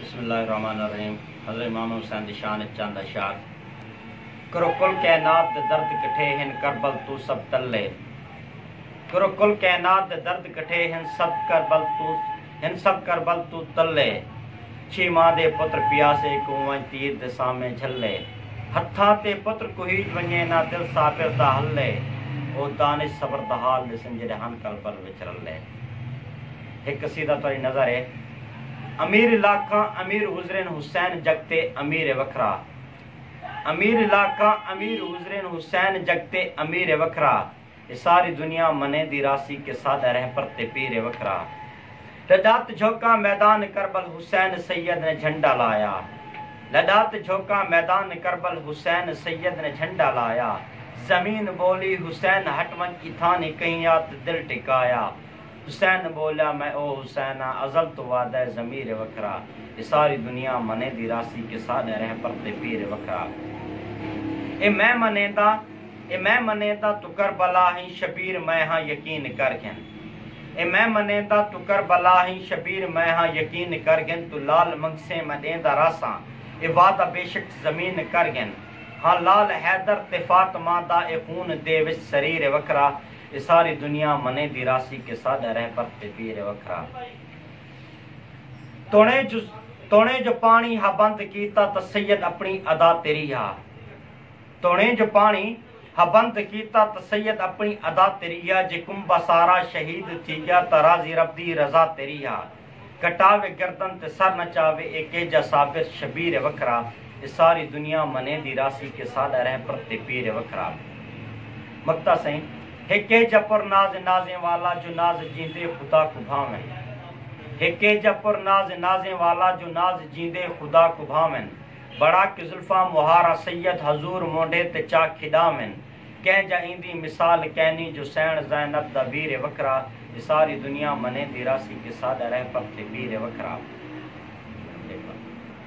بسم اللہ الرحمن الرحیم حضرت امام حسین دی شان اچ چند اشعار کرو کل کائنات دے درد کٹھے ہن کربل تو سب تلے کرو کل کائنات دے درد کٹھے ہن سب کربل تو ہن سب کربل تو تلے چھی ماں دے پتر پیاسے کوئیں تیر دے سامنے جھلے ہتھاں تے پتر کوہیج ونجے نہ دل صابر دا ہلے او دانش صبر دا حال دے سنجرے ہن کربل وچ رلے ہک قصیدہ تہاݙی نظر اے امیر لاکاں امیر حضرین حسین جگتے امیر وکھرا امیر لاکاں امیر حضرین حسین جگتے امیر وکھرا اے ساری دنیا منیندی راہسی کہ ساݙا رہبر تے پیر وکھرا لݙات جھوکاں میدان کربل حسین سید نے جھنڈا لایا لݙات جھوکاں میدان کربل حسین سید نے جھنڈا لایا زمین ٻولی حسین ہٹ ونڄ اتھاں نی کہیں آت دل ٹکایا۔ حسین بولیا میں او حسین آں ازل توں وعدہ اے ضمیر اے وکھرا اے ساری دنیا منیندی راہسی کہ ساڈا رہبر تے پیر اے وکھرا اے میں منیندا اے میں منیندا توں کربلا ہیں شبیر میں ہاں یقین کر گھن اے میں منیندا توں کربلا ہیں شبیر میں ہاں یقین کر گھن توں لعل منگسیں میں ڈیندا راہساں اے وعدہ بیشک ضمین کر گھن ہاں لعل حیدر تے فاطمہ دا اے خون دے وچ سریر اے وکھرا اے ساری دنیا منیدی راسی کہ ساڈا رہبر تے پیر اے وکھرا تونے جو تونے جو پانی ہا بند کیتا تاں سید اپنی ادا تیری ہا تونے جو پانی ہا بند کیتا تاں سید اپنی ادا تیری ہا جے کنبہ سارا شہید تھی گیا تاں راضی رب دی رضا تیری ہا کٹاوے گردن تے سر نچاوے اے کیجا صابر شبیر اے وکھرا اے ساری دنیا منیندی راسی کہ ساڈا رہبر تے پیر اے وکھرا مکتا سئیں اے کیجا پر ناز اے نازیں والا جو ناز جیندے خدا کوں بھاون اے کیجا پر ناز اے نازیں والا جو ناز جیندے خدا کوں بھاون بڑا کے زلفاں مہارا سید حضور مونڈھے تے چا کھڈاون۔ کہیں جا ایندی مثال کینی جو سینڑ زینب دا ویر اے وکھرا تے ساری دنیا منیندی راہسی کہ ساڈا رہپر تے ویر اے وکھرا۔